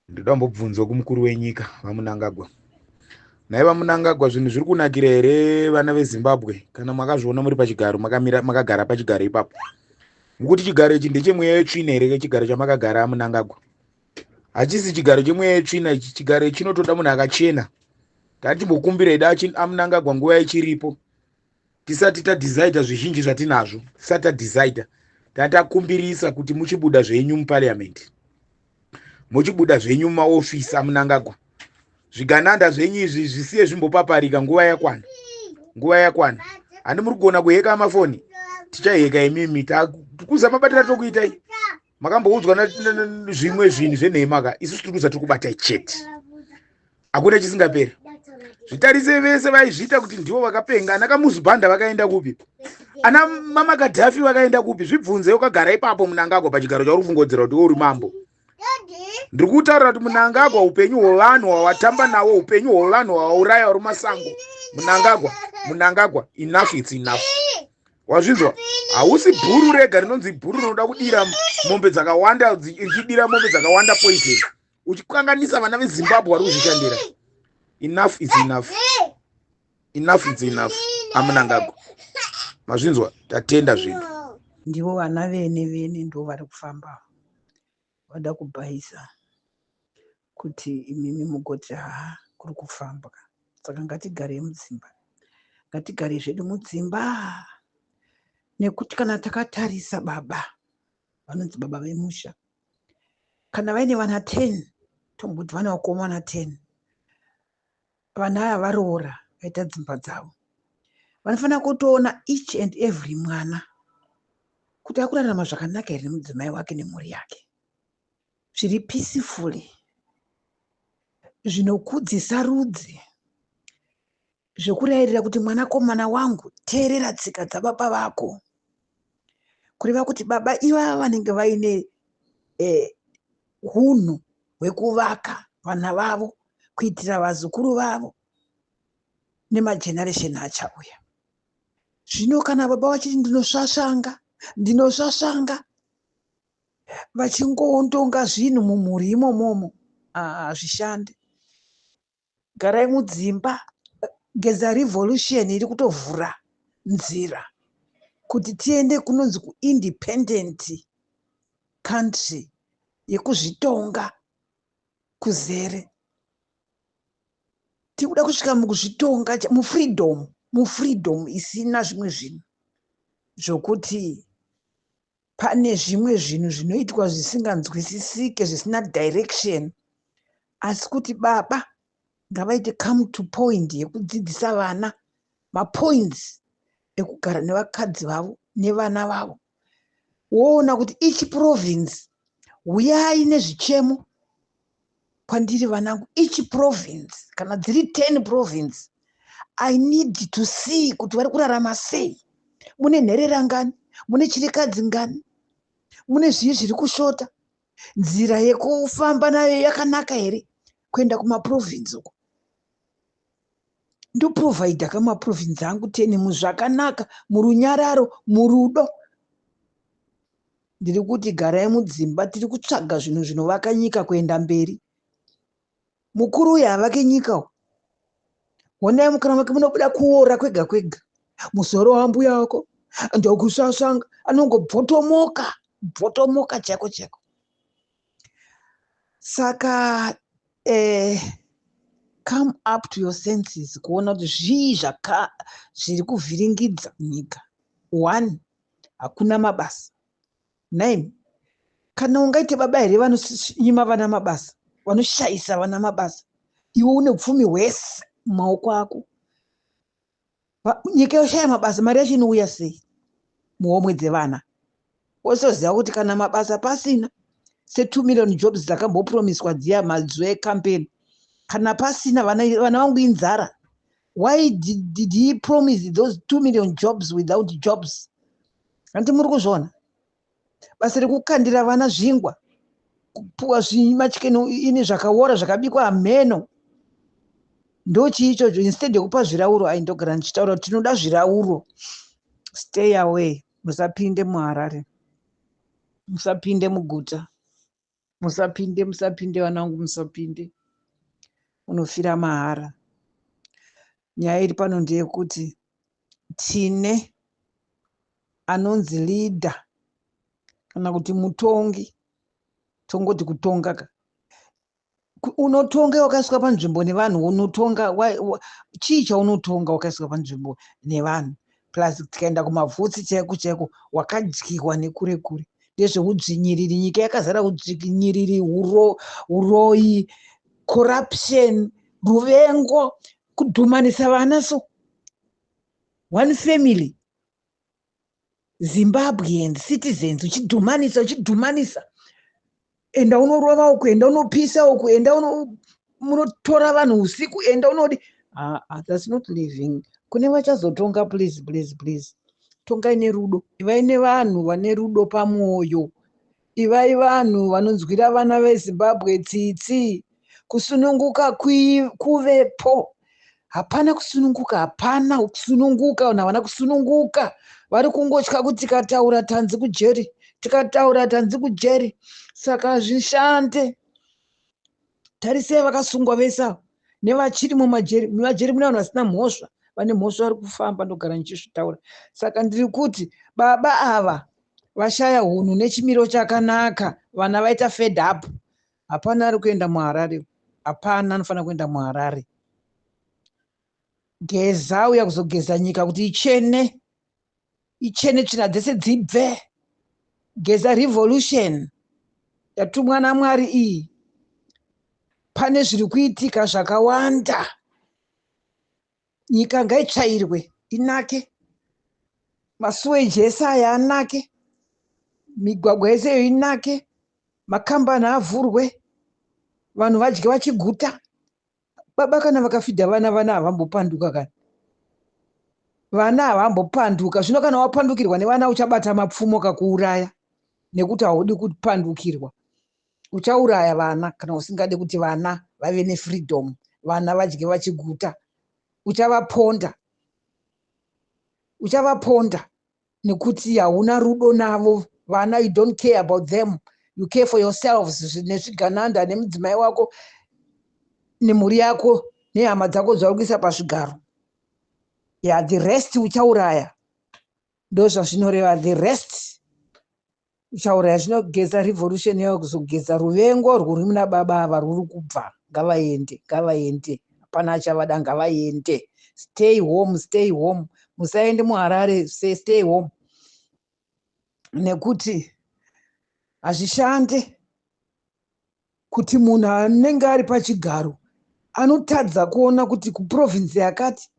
ndoda kumbobvunzwa kumukuru wenyika vamunangagwa nhai vamunangagwa zvinhu zviri kunakira here vana vezimbabwe kana makazviona muri pachigaro makamira makagara pachigaro ipapo mukuti chigaro ichi ndechemweya yetsvina here kechigaro chamakagara amunangagwa hachisi chigaro chemweya yetsvina ichi chigaro ichi chinotoda munhu akachena tatimbokumbira ida amunangagwa nguva ichiripo tisati tadecider zvizhinji zvatinazvo tisati tadecider tatakumbirisa kuti muchibuda zvenyu muparliament muchibuda zvenyu mumaofisi amunangagwa zvigananda zvenyu izvi zvisiye zvimbopaparika nguva yakwana nguva yakwana handi muri kugona kuheka mafoni tichaheka imimi tikuzamabatira tokuitai makamboudzwa zvimwe zvinhu zvenhema ka isu tiri kuza tiri kubata chete hakuna chisingaperi zvitarise vese vaizviita kuti ndivo vakapenga ana kamuzibhanda vakaenda kupi ana mama kadhafi vakaenda kupi zvibvunze ukagara ipapo munangagwa pachigaro chauri kufungodzera kuti uri mambo ndiri kutaura kuti munangagwa upenyu hwevanhu hwawatamba nawo upenyu hwevanhu hwawauraya uri masango munangagwa munangagwa enough its enough wazvinzwa hausi bhuru rega rinonzi bhuru rinoda kudira mombe dzakawanda ichidira mombe dzakawanda poison uchikanganisa vana vezimbabwe vari kuzvishandira enough is enough enough is enough amunangago mazvinzwa tatenda zvinhu ndivo vana vene vene ndo vari kufamba vada kubhaisa kuti imimi mugoti haa kuri kufambwa saka ngatigarei mudzimba ngatigarei zvedu mudzimba nekuti kana takatarisa baba vanonzi baba vemusha kana vaine vana ten tomboti vana vakomana ten vana aya varoora vaita dzimba dzavo vanofanira kutoona each and every mwana kuti akurarama zvakanaka here nemudzimai wake nemhuri yake zviri peacefully zvinokudzisa rudzi zvekurayirira kuti mwanakomana wangu teerera tsika dzababa vako kureva kuti baba ivava vanenge vaine eh, hunhu eh, hwekuvaka vana vavo kuitira vazukuru vavo nemageneresheni achauya zvino kana baba vachiti ndinosvasvanga ndinosvasvanga vachingoontonga zvinhu mumhuri imomomo hazvishandi garai mudzimba geza revolution iri kutovhura nzira kuti tiende kunonzi kuindependent country yekuzvitonga kuzere tiri kuda kusvika mukuzvitonga mufreedom mufreedom isina zvimwe zvinhu zvokuti pane zvimwe zvinhu zvinoitwa zvisinganzwisisike zvisina direction asi kuti baba ngavaite come to point yekudzidzisa vana mapoints ekugara nevakadzi vavo nevana vavo woona kuti each province huyai nezvichemo kwandiri vanangu each province kana dziri 10 province i need to see kuti vari kurarama sei mune nherera ngani mune chirikadzi ngani mune zviyi zviri kushota nzira yekufamba nayo yakanaka here kuenda kumaprovince uko ndoprovhaidha kamaprovince angu 10 muzvakanaka murunyararo murudo Ndiri kuti garai mudzimba tiri kutsvaga zvinhu zvinovaka nyika kuenda mberi. Mukuru uyu havake nyika uyu. Honai mukana make munobuda kuora kwega kwega. Musoro wambuya wako ndokusasanga anongobvotomoka bvotomoka chako chako. Saka eh, come up to your senses kuona kuti zvii zvaka zviri kuvhiringidza nyika. One hakuna mabasa nine kana ungaite baba here vanonyima vana mabasa vanoshayisa vana mabasa iwe une pfumi hwese mumaoko ako nyika yoshaya mabasa mari yacho inouya sei muhomwe dzevana wosoziva kuti kana mabasa pasina se2 million jobs dzakambopromiswa dziya mazuva ecampaign kana pasina vana vangu inzara Why did, did he promise those 2 million jobs without jobs? Hanti muri kuzviona basa rekukandira vana zvingwa kupuwa zvimachikeni ini zvakawora zvakabikwa hameno ndochii ichocho instead yekupa zvirauro ai ndogara ndichitaura kuti tinoda zvirauro stay away musapinde muharare musapinde muguta musapinde musapinde vana vangu musapinde unofira mahara nyaya iri pano ndeyekuti tine anonzi leader kana kuti mutongi tongoti kutonga ka unotonga wakaiswa panzvimbo nevanhu unotonga chii chaunotonga wakaiswa panzvimbo nevanhu plus tikaenda kumavhutsi chaiko chaiko wakadyirwa nekure kure ndezveudzvinyiriri nyika yakazara udzvinyiriri uroyi corruption ruvengo kudhumanisa vana so one family zimbabwean citizens uchidhumanisa uchidhumanisa enda unorova uku enda unopisa uku enda munotora vanhu usiku enda unodi ah, ah, thats not living kune vachazotonga please please please tongai nerudo ivai nevanhu vane rudo pamwoyo ivai vanhu vanonzwira vana vezimbabwe tsitsi kusununguka kuvepo hapana kusununguka hapana kusununguka vanhu havana kusununguka vari kungotya kuti tikataura tanzi kujeri tikataura tanzi kujeri saka hazvishande tarisei vakasungwa vese avo nevachiri mumajeri mumajeri mune vanhu vasina mhosva vane mhosva vari kufamba ndogara ndichizvitaura saka ndiri kuti baba ava vashaya hunhu nechimiro chakanaka vana vaita fed up Hapana ari kuenda muHarare. Hapana anofanira kuenda muHarare. Geza uya kuzogeza nyika kuti ichene. Ichene tsvina dzese dzibve. Geza revolution yatumwa naMwari iyi. Pane zviri kuitika zvakawanda. nyika ngaitsvairwe inake masuweji ese aya anake migwagwa yese iyo inake makambani avhurwe vanhu vadye vachiguta baba kana vakafidha vana vana havambopanduka kana vana havambopanduka zvino kana wapandukirwa nevana uchabata mapfumo kakuuraya nekuti haudi kupandukirwa uchauraya vana kana usingade kuti vana vave nefreedom vana vadye vachiguta uchavaponda uchavaponda nekuti hauna rudo navo vana you don't care about them you care for yourselves nezvigananda nemudzimai wako nemhuri yako nehama dzako dzauri kuisa pazvigaro ya the rest uchauraya ndozvazvinoreva the rest uchauraya zvinogeza revolution yavo kuzogeza ruvengo urwu ruri muna baba ava rwuri kubva ngavaende ngavaende hapana achavada ngavaende stay home stay home musaende muharare stay home nekuti hazvishande kuti munhu anenge ari pachigaro anotadza kuona kuti kuprovince yakati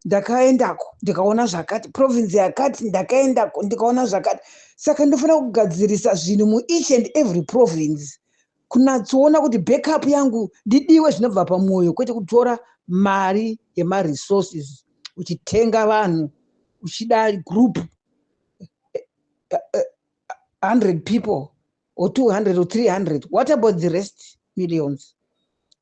ndakaendako ndikaona zvakati province yakati ndakaendako ndikaona zvakati saka ndofanira kugadzirisa zvinhu mueach and every province kunatsoona kuti backup yangu ndidiwe zvinobva pamwoyo kwete kutora mari yemaresources uchitenga vanhu uchida group 100 eh, eh, eh, people or 200 or 300 what about the rest millions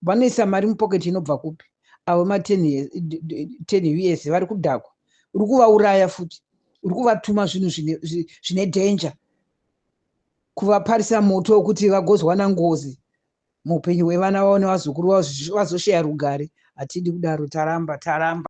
vanoisa mari mupocket inobva kupi avo ma 10 years vari kudhakwa uri kuvauraya futi uri kuvatuma zvinhu zvine danger kuvaparisa moto wekuti vagozwana ngozi muupenyu hwevana vavo nevazukuru vavo vazosheya rugare hatidi kudaro taramba taramba